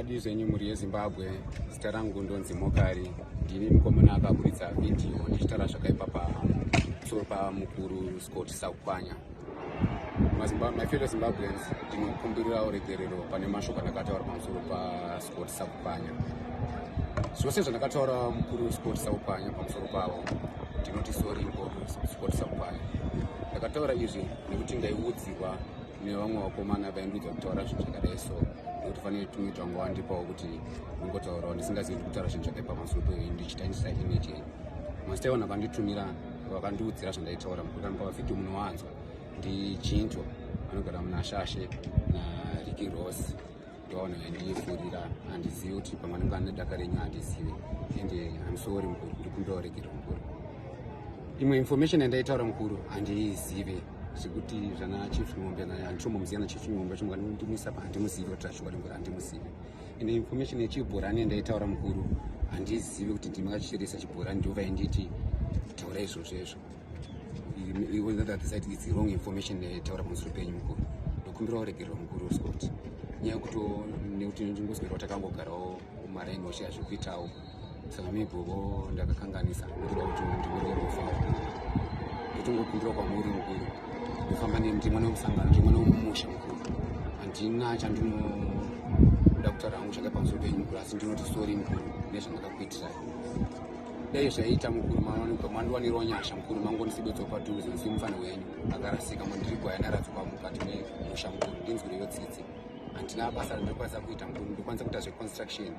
makadii zvenyu mhuri yezimbabwe zita rangu ndonzi mokari ndini mukomana akaburitsa vhidhiyo ndichitaura zvakaipa pamusoro pamukuru scott sakukwanya my fellow zimbabweans ndinokumbirira uregerero pane mashoko andakataura pamusoro pascot sakupanya zvose zvandakataura mukuru wescot sakupanya pamusoro pavo ndinoti sori mukuru wescot sakupanya ndakataura izvi nekuti ndaiudzirwa nevamwe vakomana vaindiudza kutaura zvinhu zvakadai so nekuti fanire tumwe twangu wandipawo kuti ungotaurawo ndisingazivi kutaura zvinhu zvakaipa pamusoro pei ndichitangisa image Mastaiwan akanditumira vakandiudzira zvandaitaura mukuti anokava video munowanzwa ndichinto anogara muna shashe nariki rose ndoona ndiyifurira handizivi kuti pamwe anenge ane daka renyu handizivi ende amsori mukuru ndikumbira uregere mukuru imwe information yandaitaura mukuru handiizive zvekuti zvana chief ngombe handitombomuziyana chief ngombe chimwe ndimisa pa handimuzivi kuti zvashuwa ringori handimuzivi ine information yechibhorani ndaitaura mukuru handizivi kuti ndimi kachirisa chibhorani ndiova inditi taura izvozvo izvo iwezathatisati its wrong information taura pamusoro penyu mukuru ndokumbira uregererwa mukuru uscot nyaya yekuti nekuti ndingozwerwa takangogarawo maraini washe azvikuitawo sami bhobo ndakakanganisa ndoda kuti ndimire rufa ndotongopindura kwamuri mukuru ndofamba ndimwe nemusangano ndimwe nemumusha mukuru handina chandinoda kutaura hangu chake pamusoro penyu mukuru asi ndinoti sori mukuru nezvandakakuitirai dai zvaiita mukuru mawanikwa mandiwanirawo nyasha mukuru mangonisibetso padhuze nsimufanha wenyu akarasika mandiri gwaya ndaradzikwa mukati memusha mukuru ndinzwireyo tsitsi handina basa randakwanisa kuita ndokwanisa kuita zveconstruction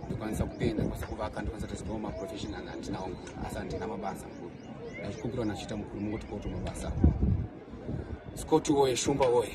ndokwanisa kupenda ndokwanisa kuvaka ndokwanisa kuita zvimwe maprofessional handinawo mukuru asi handina mabasa mukuru ndazvikumbirawo nachiita mukuru mungoti koto mabasa scott woye shumba woye